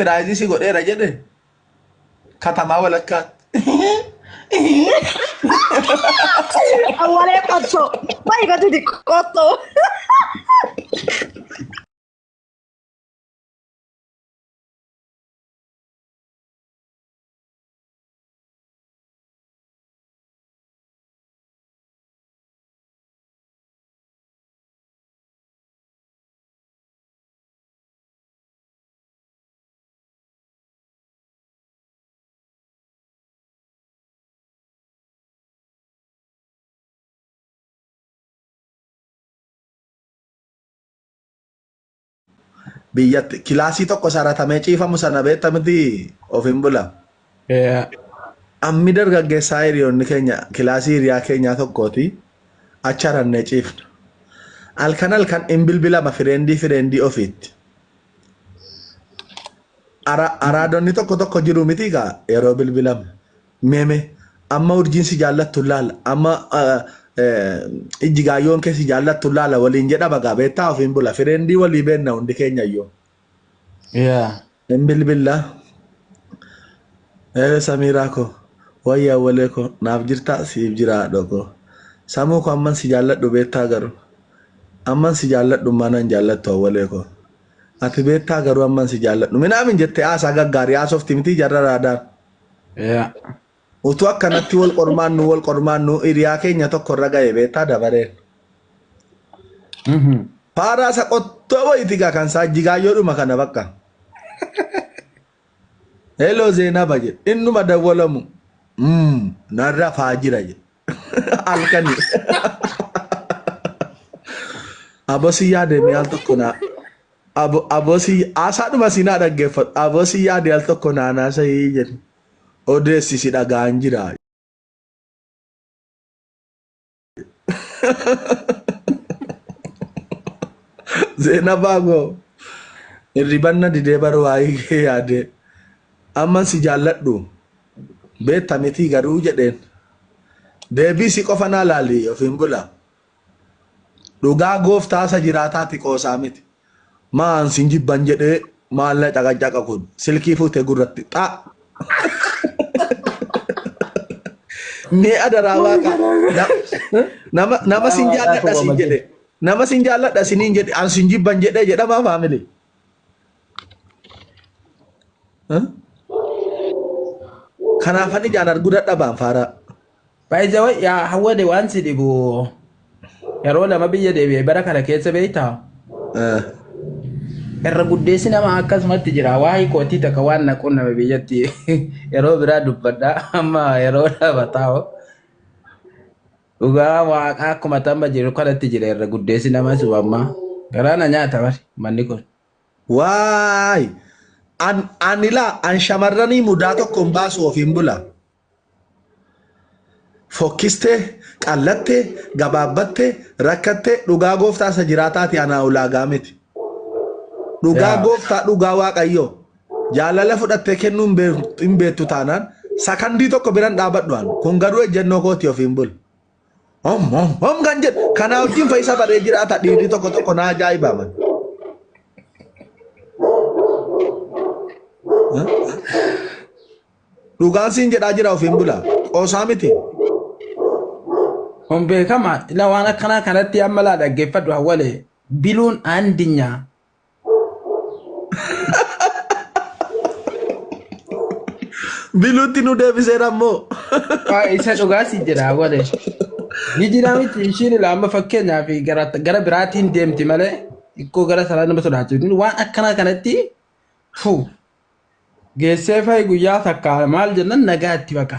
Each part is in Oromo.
Sirpiraayizii si godheera jedhe katamaa walakkaatti. Awwalee qottoo. Baay'ee gatuuti qottoo. biyyatti kilaasii tokko saratamee ciifamu sana beekta miti ofiin bula. Eh, Ammi dargaggeessaa hiriyoonni keenya kilaasii hiriyaa keenyaa tokkooti acharannee ciifna. Halkan halkan hin bilbilama fireendii fireendii ofiitti. Ara- araadonni tokko tokko jiru miti gaa yeroo bilbilam meme amma urjiin si jaallattu laala amma ah, eh, ijji gaayyoon kee si jaallattu laala waliin jedha bagaa beektaa ofiin bula fireendii walii beenna hundi keenya iyyuu Yeah. hin bilbilla Eere samiiraa koo wayya awwalee koo naaf jirtaa siif jiraa dhokoo samuu koo amman si jaalladhu beektaa garuu Amman si jaalladhu ummaa nan jaallattu awwalee koo Ati beettaa garuu amman si jaalladhu minaamin jette haasaa gaggaarii haasofti mitii jarra raadaan Yaa. utuu akkanatti wal qormaannu wal qormaannu hiriyaa keenya tokko irra ga'e beettaa dabareen Mhm. faaraa isa qottoo wayiti gaa kan isaa jigaayyoodhuma kana bakka heloo zeenaba jedhe innuma dawwalamu Mm, nan rafaa jira jedhe Halkani. Abosi yaade mee al tokko naa. Abo- Abosi haasaadhuma si naa dhaggeeffadhu. Abosi yaade al tokko naa naasa'ii jedhu. Odeessi si dhagaan jira. Zeenabaa goo. Hirribanna didee bar waa'ee kee yaadee. Amman si jaalladhu. beetta mitii garuu jedheen deebii si qofa naa laali ofiin bula dhugaa gooftaa isa jiraataati qoosaa miti maan sin jibban jedhee maal na caqacaqa kun silkii fuutee gurratti xaa mee adaraa waaqa na- nama nama sin jaalladha sin jedhe nama sin jaalladha siniin jedhe an sin jibban jedhee jedhamaa faamilii Kanaaf ani ijaan arguu dadhabaan faaraa. Baay'isawwan yaa hawwade waan si dhibu yeroo lama biyya deebi'e bara kana keessa beektaa? Eh, Irra guddeessi nama akkasumatti jira. Waa'ee kootii takka waan na qunname biyyatti yeroo biraa dubbadha. Amma yeroo lama taa'u. Dhugaa waaqaa akkuma tamma jiru kanatti jira irra guddeessi nama sun amma garaa na nyaata bar manni kun. Waay! An an ilaa an shamarranii mudaa tokko hin baasu ofiin bula. Fokkistee, qallattee, gabaabbattee, rakkattee dhugaa gooftaa isa jiraataati anaa ulaagaa miti. Dhugaa Yaa. gooftaa dhugaa waaqayyoo. Jaalala fudhattee kennuu hin beek- hin beektu taanaan sakandii tokko biran dhaabadhu an. Kun garuu ejjennoo kooti ofiin bul. Hom hom hom kan jedhu kanaa wajjin fayyisa baree jiraata dhiirri tokko tokko naa ajaa'iba man. Dhugaan siin jedhaa jira ofiin bula. Qoosaa miti. Kun beekama. Ila waan akkanaa kanatti amma laa dhaggeeffadhu hawwale. Biluun aandinya Biluutti nu deebiseera ammoo. Waa isa dhugaa si jedha wale. Ni jira miti ishiin ilaa amma fakkeenyaaf gara gara biraatiin deemti malee ikkoo gara sanaa nama sodaachifti. Waan akkanaa kanatti fu geessee fa'i guyyaa takka maal jennan nagaa itti baqa.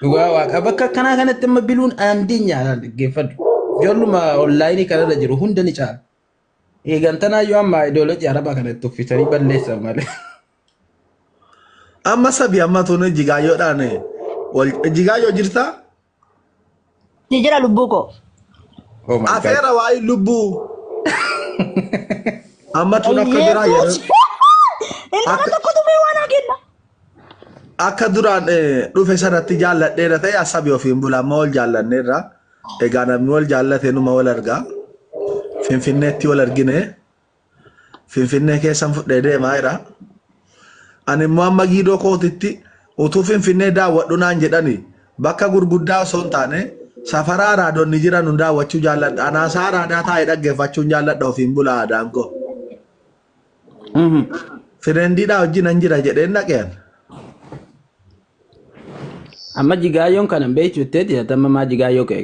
Dhugaa waaqa bakka akkanaa kanatti amma biluun aandii nyaata dhaggeeffadhu. Ijoolluma onlaayinii kanarra jiru hunda ni caala. Eegantanaa yoo amma ideoloojii arabaa kana itti uffisanii balleessan malee. Amma sabi amma tun jigaayyoodhaan wal jigaayyo jirta Ni jira lubbuu koo. Oh my God. Afeera waa'ee lubbuu. Amma tun akka duraa yeroo Inni Akka- tokko tumee waan haa kenna. akka duraan eh, dhufe sanatti jaalladheera ta'e asabi ofiin bula amma wal jaallanneerra. Egaa namni wal jaallate numa wal argaa. Finfinneetti wal argine. Finfinnee keessan fudhee deemaa jira. Ani immoo amma giidoo kootitti utuu Finfinnee daawwadhu naan jedhani bakka gurguddaa osoo hin taane safara araadonni jiran nu daawwachuu jaalladha. Anaasaa araadaa taa'ee dhaggeeffachuun jaalladha ofiin bula aadaan koo. Mhm. Fireendiidhaa wajjin nan jira jedheen dhaqeen. Amma jigaayyoon kana hin beektu jettee jiraata amma maa jigaayyoo ka'e.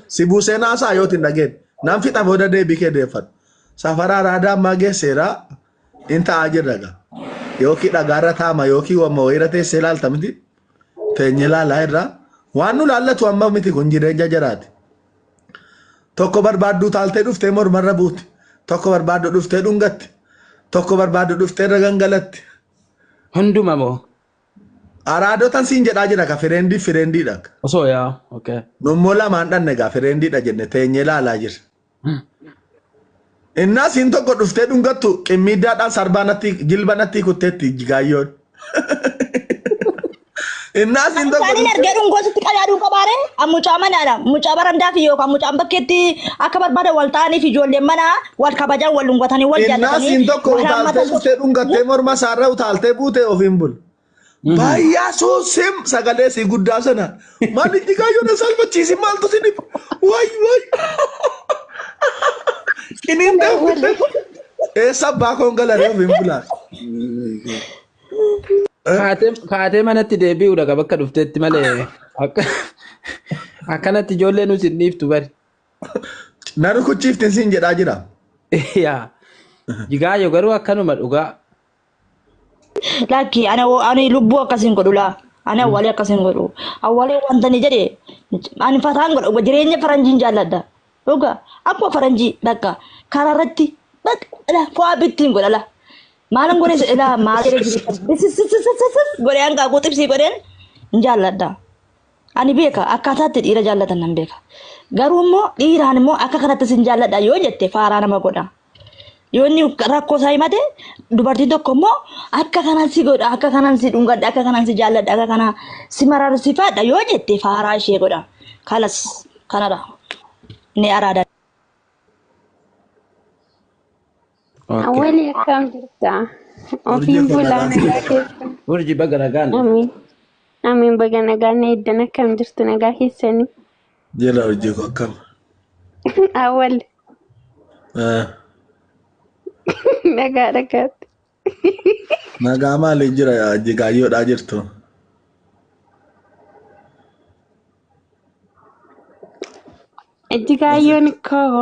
Si buusee naasaa yooti hin dhageen. Nan fixa booda deebii kee deeffadhu. Safaraa raadaa ammaa geesseera in ta'a jirra gaa. Yookiin dhagaarra taama yookiin wamma wayiirra teessee ilaalta miti. Teenyee ilaalaa irraa. Waan nu laallatu amma miti kun jireenya jaraati. Tokko barbaadduu taaltee dhuftee mormarra buuti. Tokko barbaaddu dhuftee dhungatti. Tokko barbaaddu dhuftee irra gangalatti. Hunduma moo Araadotan siin jedhaa jira ka fireendiif fireendiidha. Osoo yaa okay. Nummoo lamaan dhanne egaa fireendiidha jenne teenyee laalaa jirra. Innaa siin tokko dhuftee dhungattu qimmiiddaadhaan sarbaa natti jilba natti kutteetti jigaayyoon. Innaa siin tokko Isaaniin dhuftee argee dhungoosutti qadaaduu qabaare mucaa manaadha. Mucaa barandaa fi yookaan mucaan bakkeetti akka barbaada wal ta'aniif ijoolleen manaa wal kabajan wal dhungatanii wal Innaa jaallatanii siin tokko wal utaaltee hammatan dhuftee dhungattee morma isaarra utaaltee buutee ofiin bul. Baayyaa suusim sagalee sii guddaa sana. Maal itti kaayyoo na salphachiisi maaltu si dhibu? Waay waay. Qiniin deemtee. Eessa abbaa koon galaree ofiin bulaa. Kaatee kaatee manatti deebi'uudha qaba akka dhufteetti malee akka akkanatti ijoollee nuti hin dhiiftu bari. Na rukuchiiftin siin jedhaa jira. Yaa. Jigaayo garuu akkanuma dhugaa. Lakki ana wo- ani lubbuu akkasiin godhu laa. Ani awwaalee akkasiin godhu. Awwaalee wanta ni jedhe ani fataan godha jireenya faranjiin jaalladha. Dhuga akkuma faranjii bakka karaa irratti bakka fo'aa bittiin godha laa. Maalan godhe se- laa maal jedhe jireenya godhe hanqaaquu xibsii godheen hin jaalladha. Ani beeka akkaataa itti dhiira jaallatan nan beeka. Garuu immoo dhiiraan immoo akka kanatti sin jaalladha yoo jette faaraa nama godha. Yoo inni rakkoo isaa himate dubartiin tokko immoo akka kanan si godha akka kanan si dhungadha akka kanan si jaalladha akka kana si mararsifaadha yoo jette faaraa ishee godha. Kalas kanadha. Ni araada. Ok. Awwali akkam jirta? Urjii Ofiin koo bulaa nagaan si nagaa jirtu. keessa. Urji baga nagaan dhufte. Amiin. Amiin baga nagaa na eddan akkam jirtu nagaa keessanii? Jela urjii koo akkam. Awwal Eh, nagaa dhagaatti. Nagaa maaliin jira jigaayyoodhaa jirtu. Ejjigaayyoon koo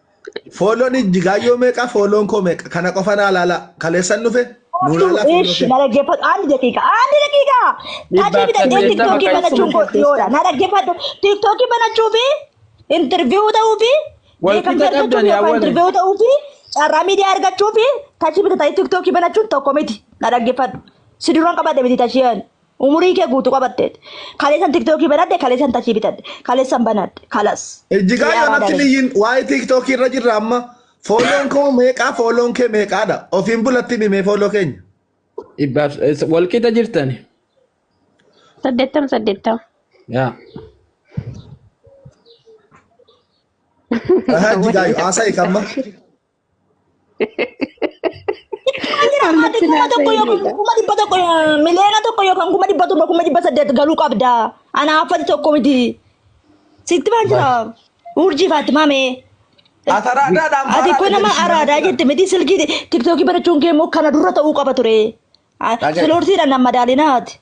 Foolloon jigaayyoo meeqa foolloon koo meeqa kana qofa naa laalaa kaleessan dhufe nuu Koottu laalaa fooloo ish kee. na dhaggeeffadhu andi daqiiqa andi daqiiqa Dhibba tajii akka bitattee jeettama tiktookii kan banachuun isin koo dhiyoodha na dhaggeeffadhu tiktookii banachuu fi intirviiyuu ta'uu fi wal qixa beekamtii argachuuf qabdani yookaan awwale. intirviiyuu ta'uu fi carraa miidiyaa argachuu fi tajii bitatanii tiktookii banachuun tokko miti na dhaggeeffadhu si duran qabadde miti tajii ani Umurii kee guutu qabatte. Kaleessan tiktookii banadhe, kaleessan tachii bitadhe, kaleessan banadhe. Kalas. Ijjigaa Xiyyaa yoonatti baadare. niyyin waa'ee tiiktookii irra jirra amma fooloon koo meeqaa fooloon kee meeqaadha ofiin bulatti himi mee fooloo keenya Dhibbaaf walqixa jirtani. Saddeettama saddeettama. Yaa. Aha, ijjigaa yoo haasa'e kamma Harmatti kuma naasa tokko yookaan hiriidha. kuma dhibba tokko miliyoona tokko yookaan kuma dhibba torba kuma dhibba saddeet galuu qabda. Ana haaffati tokko miti. Sitti maan jira? Urjii Faatimaa mee? Asaraadhaadhaan Ati baaraa kun nama araadaa jette miti silkii tiktookii barachuun kee immoo kana dura ta'uu qaba ture. Dhagaye. Sulurtii dhan madaalinaati.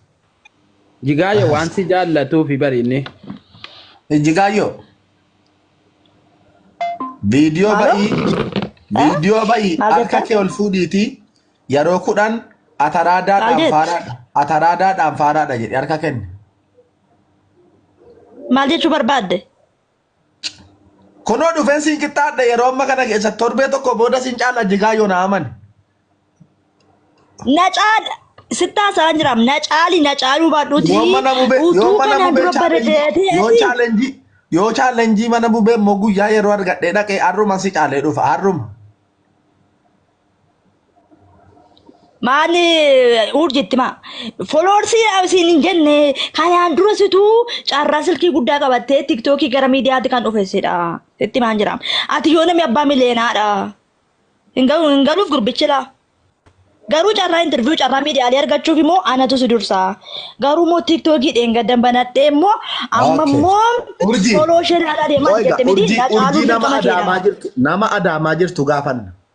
Jigaayo waan si jaallatuufi bari inni. Jigaayyoo. Viidiyoo Haaloo? ba'ii viidiyoo ba'ii Maal harka jettan? kee ol fuudhiitii yeroo kudhan ataraadaadhaan Maal jette? faaraadha ataraadaadhaan faaraadha jedhe harka kenne. Maal jechuu barbaadde? Kunoo dhufeen siin qixxaadha yeroo amma kana keessa torbee tokko booda siin caala jigaa yoo na amane. Na caala. Sittaa isaa hin jiraam. Na caali na caaluu baadhuuti. Yoo mana bubee yoo Utuu mana kanaan bubee dura chaalenjii yoo bareedeeti. chaalenjii yoo chaalenjii mana bubee immoo guyyaa yeroo argadhee dhaqee har'uma si caalee dhufa har'uma. Maali urjitti maa foloorsii isin hin jenne kanaan dura situu carraa silkii guddaa qabattee tiktookii gara miidiyaatti kan dhufessidha. Sitti maan jiraam. Ati yoo namni abbaa miliyeenaadha. Hin galu hin galuuf gurbichila. Garuu carraa interviyuu carraa miidiyaalee argachuuf immoo anatu si dursa. Garuu immoo tiktookii dheengaddan banadhee immoo amma Okay. immoo Urjii. foloo ishee ilaalaa deemaa Qoyga, jettee miti urjii, na caaluu urjii nama dirqama adaamaa keedha. jirtu nama adaamaa jirtu gaafanna.